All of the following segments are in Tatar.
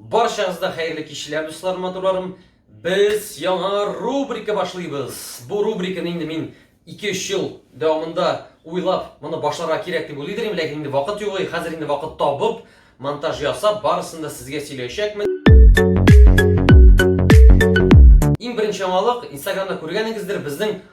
Баршаңызда хәерле кичләр, дуслар, матурларым. Без яңа рубрика башлыйбыз. Бу рубриканы инде мин 2-3 ел дәвамында уйлап, моны башларга кирәк дип уйлый идем, ләкин инде вакыт юк, хәзер инде вакыт табып, монтаж ясап, барысын да сезгә сөйләячәкмен. Иң беренче яңалык, Инстаграмда күргәнегездер, безнең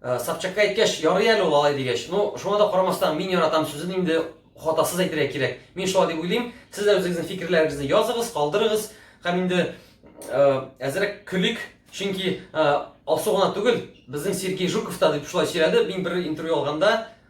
Э, Собчакка әйткәч, ярый әле ул алай дигәч. Ну, шуңа да карамастан, мин яратам сүзен инде хатасыз әйтергә кирәк. Мин шулай дип уйлыйм. Сез дә үзегезнең фикерләрегезне языгыз, калдырыгыз. Һәм инде э, әзрәк көлик, чөнки э, Алсу гына түгел, безнең Сергей Жуков та дип шулай сөйләде. Мин бер интервью алганда,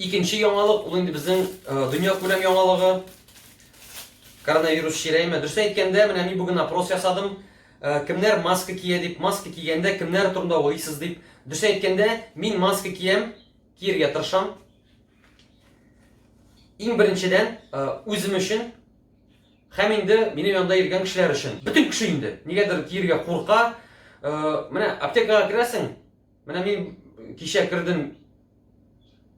Икенче яңалык, ул инде безнең дөнья күләм яңалыгы. Коронавирус чирәйме? Дөрес әйткәндә, менә мин бүген опрос ясадым. Кемнәр маска кия дип, маска кигәндә кемнәр турында уйлыйсыз дип. Дөрес әйткәндә, мин маска киям, киергә тырышам. Иң беренчедән, үзем өчен Хәм инде мине янда иргән кешеләр өчен. Бүтін кеше инде. Нигәдер киергә курка. Э, менә аптекага керәсең. Менә мин кичә кердем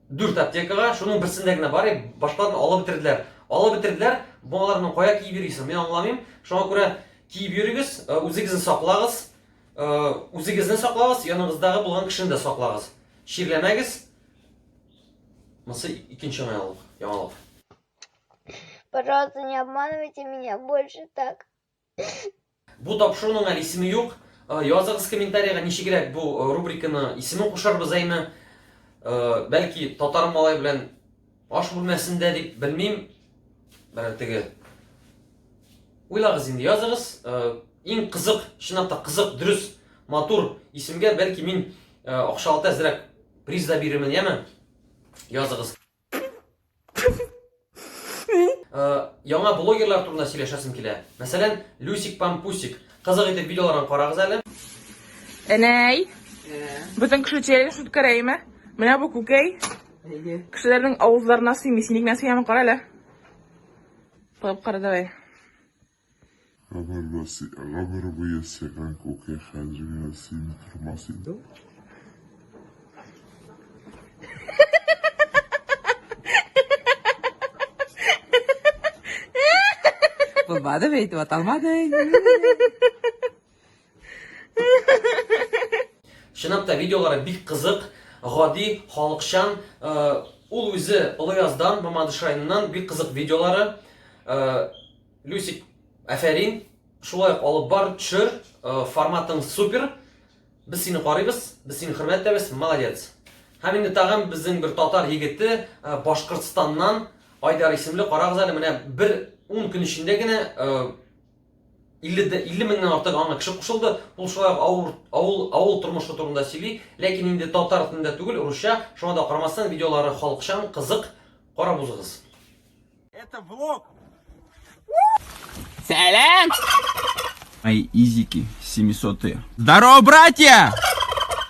дүрт аптекага, шуның берсендә генә бар, башкаларын алып бетерделәр. Алып бетерделәр, балаларның кая киеп йөрисең, мин аңламыйм. Шуңа күрә киеп йөрегез, э, үзегезне саклагыз, э, үзегезне саклагыз, яныгыздагы булган кешене дә саклагыз. Чирләмәгез. Монысы икенче яңалык. Пожалуйста, не обманывайте меня больше так. Бу тапшыруның әле исеме юк. Э, языгыз комментарийга ничегрәк бу э, рубриканы исеме кушарбыз әйме. Э, бәлки татар малай белән аш бүлмәсендә дип белмим. Бер теге Уйлагыз инде, языгыз. Иң кызык, чынлап та кызык, дөрес, матур исемгә бәлки мин акчалата әзрәк приз да бирермен, яме? Языгыз. Э, яңа блогерлар турында сөйләшәсем килә. Мәсәлән, Люсик Пампусик. Кызык итеп видеоларын карагыз әле. Әнәй. Бүтән кеше тияргә шут кәрәйме? Менә бу күкәй. Кешеләрнең авызларына сыймый. Син ник нәрсә яма кара әле. Кылып кара давай. Гомер буе сыйган күке хәзер генә сине кырмас иде. Булмады бит, ваталмады. Чынлап та видеолары бик кызык, гади, халыкчан. Ул үзе Олыяздан, Мамадыш районыннан бик кызык видеолары. Люсик, әфәрин. Шулай ук алып бар, төшер. Форматың супер. Без сине карыйбыз, без сине хөрмәтләбез. Молодец. Һәм инде тагын безнең бер татар егете Башкортстаннан Айдар исемле карагыз әле менә бер 10 көн эчендә генә 50 дә 50 меңнән артык аңа кеше кушылды. Ул шулай ук авыл авыл авыл тормышы турында сөйли, ләкин инде татар телендә түгел, русча. Шуңа да карамастан, видеолары халыкчан, кызык. Карап узыгыз. Это влог. Сәлам! Ай, изики, 700 -е. Здорово, братья!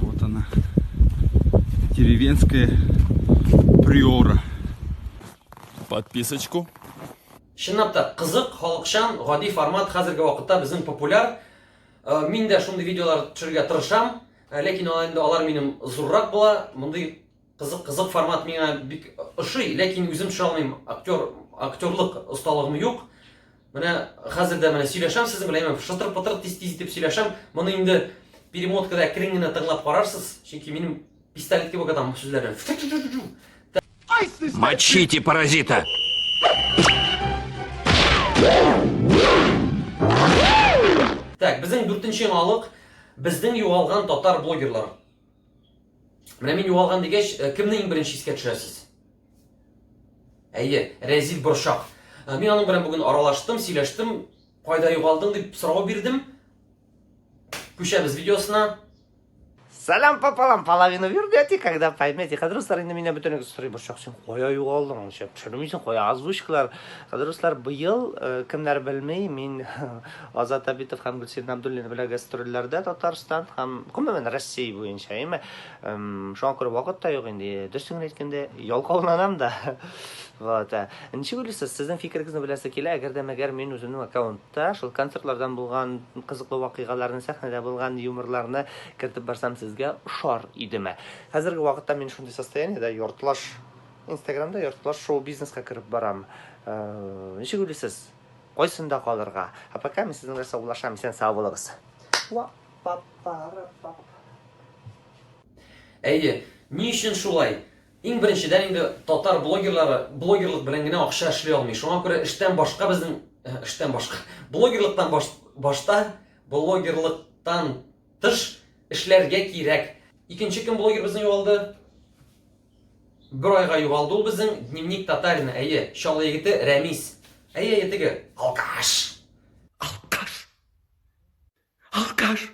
Вот она, деревенская приора. Подписочку. Чынлап та кызык, халыкчан, гади формат хәзерге вакытта безнең популяр. Э, мин дә шундый видеолар төшерергә тырышам, э, ләкин алар инде алар минем зуррак була. Мондый Кызык, кызык формат миңа бик ошый, ләкин үзем төшә алмыйм. Актер, актерлык осталыгым юк. Менә хәзер дә менә сөйләшәм сезнең белән, әмма шытыр-пытыр тиз-тиз итеп сөйләшәм. Моны инде перемоткада әкрен генә тыңлап карарсыз, чөнки минем пистолет кебек атам сүзләрне. Мочите паразита! Так, безнең дүртенче яңалык, безнең югалган татар блогерлары. Менә мин югалган дигәч, э, кемне иң беренче искә төшерәсез? Әйе, Рәзил Борчак. Э, мин аның белән бүген аралаштым, сөйләштем. Кайда югалдың дип сорау бирдем. Күчәбез видеосына. Салам пополам, половину вернете, когда поймете. Кадруслар инде меня бөтенлек сорый борчак, сен кая югалдың? Аңча төшермисең, кая озвучкалар. Кадруслар быел э, кемнәр белми, мин Азат Әбитов һәм Гөлсинә Абдуллина белән гастрольләрдә Татарстан һәм, гомумән, Россия буенча, әйме. Шуңа күрә вакыт та юк инде, дөресен генә әйткәндә, ялкауланам да. Вот. Ә. Ничек уйлыйсыз, сезнең фикерегезне беләсе килә, әгәр дә мәгәр мин үземнең аккаунтта шул концертлардан булган кызыклы вакыйгаларны, сәхнәдә булган юморларны кертеп барсам, сезгә ошар идеме? Хәзерге вакытта мин шундый состояниедә, яртылаш Инстаграмда, яртылаш шоу-бизнеска кереп барам. Ничек уйлыйсыз? Кайсында калырга? А пока мин сезнең белән саубуллашам, исән сау булыгыз. Әйе, ни өчен шулай? Иң беренчедән инде татар блогерлары блогерлык белән генә акча эшли алмый. Шуңа күрә эштән башка безнең э, эштән башка блогерлыктан баш, башта блогерлыктан тыш эшләргә кирәк. Икенче кем блогер безнең югалды? Бер айга югалды ул безнең дневник татарина, әйе, Чаллы егете Рәмис. Әйе, әйе, теге, алкаш. Алкаш. Алкаш.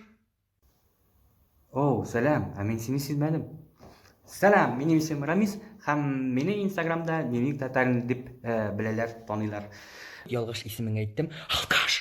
Оу, сәлам, ә мин сине сизмәдем. Сәлам, минем исем Рамис, һәм мине Инстаграмда дневник татарин дип э, беләләр, таныйлар. Ялгыш исемен әйттем. Алкаш.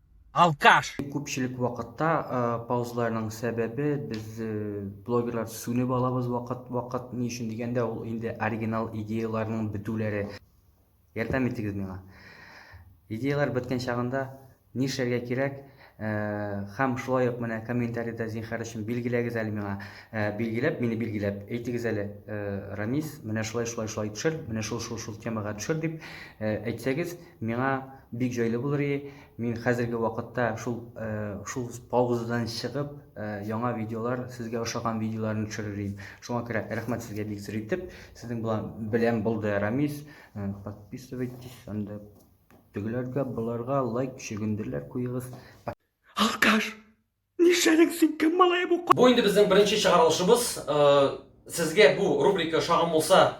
алкаш! Күпчелек вакытта паузаларның сәбәбе без блогерлар сүнеп алабыз вакыт вакыт ни өчен дигәндә ул инде оригинал идеяларның бетүләре ярдәм итегез миңа идеялар беткән чагында нишләргә кирәк һәм шулай ук менә комментарида зинхар өчен билгеләгез әле миңа билгеләп мине билгеләп әйтегез әле рамис менә шулай шулай шулай төшер менә шул шул шул темага төшер дип әйтсәгез Миңа бик җайлы булыр и, мин хәзерге вакытта шул э, шул паузадан чыгып, э, яңа видеолар, сезгә ошаган видеоларны төшерер идем. Шуңа күрә рәхмәт сезгә бик зур итеп. Сезнең белән белән булды Рамис. Э, подписывайтесь анда. Тегеләргә, боларга лайк чөгендерләр куегыз. Алкаш! Нишләдең син кем малае бу? Бу инде безнең беренче чыгарылышыбыз. Сезгә бу рубрика ошаган булса,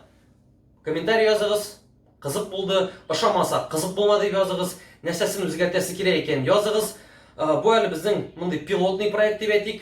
комментарий языгыз. Кызык булды. Ошамаса, кызык булмады дип языгыз. Нәрсәсен үзгәртәсе кирәк икән, языгыз. Бу әле безнең мондый пилотный проект дип әйтик.